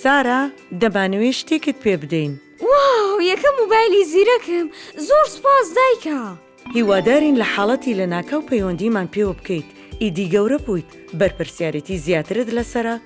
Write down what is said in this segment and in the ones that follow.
سارا دەمانەوێ شتێکت پێ بدەین. واو یەکەم موبایلی زیرەکم زۆر سپاس دایکە. هیوادارین لە حاڵەتی لەناکاو پەیوەندیمان پێوە بکەیت ئیدی گەورە بوویت بەرپرسیارێتی زیاترت لەسەرە،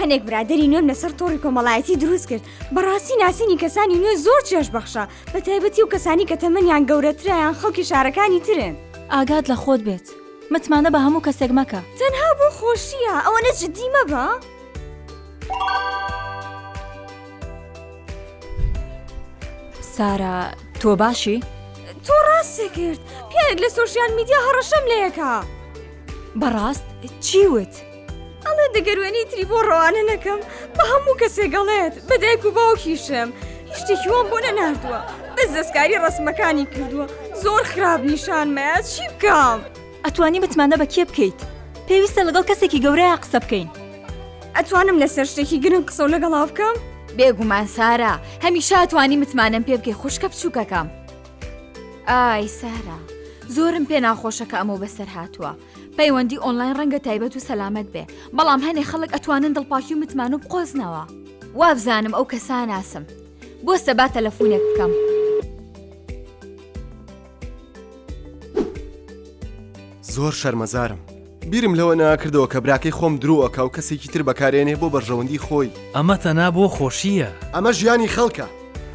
هەنێک برادری نوێم لەسەر تۆڕی کۆمەڵایەتی دروست کرد بەڕاستی ناسینی کەسانی نوێ زۆر چێش بەخشە بە تایبەتی و کەسانی کە تەمەنیان گەورەترایان خەڵکی شارەکانی ترن ئاگات لە خۆت بێت متمانە بە هەموو کەسێک مەکە تەنها بۆ خۆشیە ئەوە نە جددی مەبە؟ سارا تۆ باشی؟ تۆ ڕاستێ کرد پیاێک لە سوۆشیال میدیا هەڕەشەم لەیەکە بەڕاست چی وت؟ ئەڵێ دەگەر وێنەی تری بۆ ڕەوانە نەکەم بە هەموو کەسێک گەڵێت بە دایک و باوکیشم هیشتێکی وام بۆ نەناردووە بەس دەستکاری ڕسمەکانی کردووە زۆر خراپ نیشانمەیە چی بکەم ئەتوانی متمانە بە کێ بکەیت پێویستە لەگەڵ کەسێکی گەورەیە قسە بکەین ئەتوانم لەسەر شتێکی گرنگ قسە و لەگەڵا بکەم بێگومان سارا هەمیشە توانی متمانەم پێ بکەی خوشکە بچووکەکەم ئای سارا زۆرم پێ ناخۆشەکە ئەمە بەسەر هاتووە پەیوەندی ئۆنلاین ڕەنگە تایبەت و سەلامت بێ بەڵام هەنێ خەڵک ئەتوانن دڵپاکی و متمان و بقۆزنەوە وابزانم ئەو کەساناسم بۆ سەبا تەلەفۆنێک بکەم. زۆر شەرمەزارم بیرم لەوە ناکردەوە کە براکەی خۆم درۆەکە و کەسێکی تر بەکارێنێ بۆ بەرژەوەندی خۆی ئەمە تەنا بۆ خۆشییە ئەمە ژیانی خەڵکە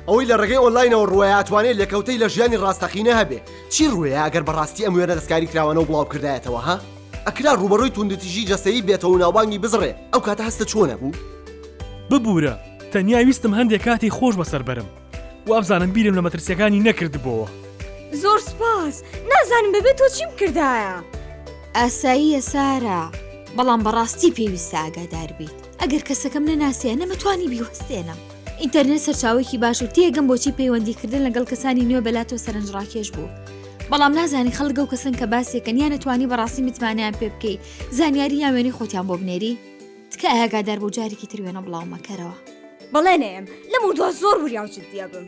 ئەوەی لە ڕێگەی ئۆنلاینەوە ڕوایاتوانێت لەکەوتەی لە ژیانی ڕاستەقینە هەبێ چی ڕووێ ئەگەر بەڕاستی ئەم وێنە دەستکاری کراوانەو بڵاو کردایەتەوە ها ئەکرا ڕووبەڕووی توندوتیژی جەستەیی بێتەوەو ناوبانگی بزڕێ ئەو کاتە هەستە چۆن ئەبوو؟ ببورە تەنیا ویستم هەندێ کاتی خۆش بەسەر بەرم وابزانم بیرم لە مەترسیەکانی نەکردبۆوە. زۆر سوپاس نازانم بەبێ تۆ چیم کردایە. ئاساییە سارا بەڵام بەڕاستی پێویستە ئاگاداربیت. ئەگەر کەسەکەم نەناسیە نەمەتوانی بیوەستێنم. ئینتەرنێت سەرچاوێکی باش و تێگەم بۆچی پەیوەندیکردن لەگەڵ کەسانی نوێ بەلاتۆ سەرنجڕاکێش بوو. بەڵام نازانی خەڵک ئەو کەسن کە باسێکەن یان نەتوانی بەڕاستی متمانیان پێ بکەی زانیاری یان وێنەی خۆتیان بۆ بنێری تکایە ئاگادار بۆ جارێکی تر وێنە بڵاو مەکەرەوە بەڵێ نەیەم لەم و دوا زۆر وریاو جددیە بم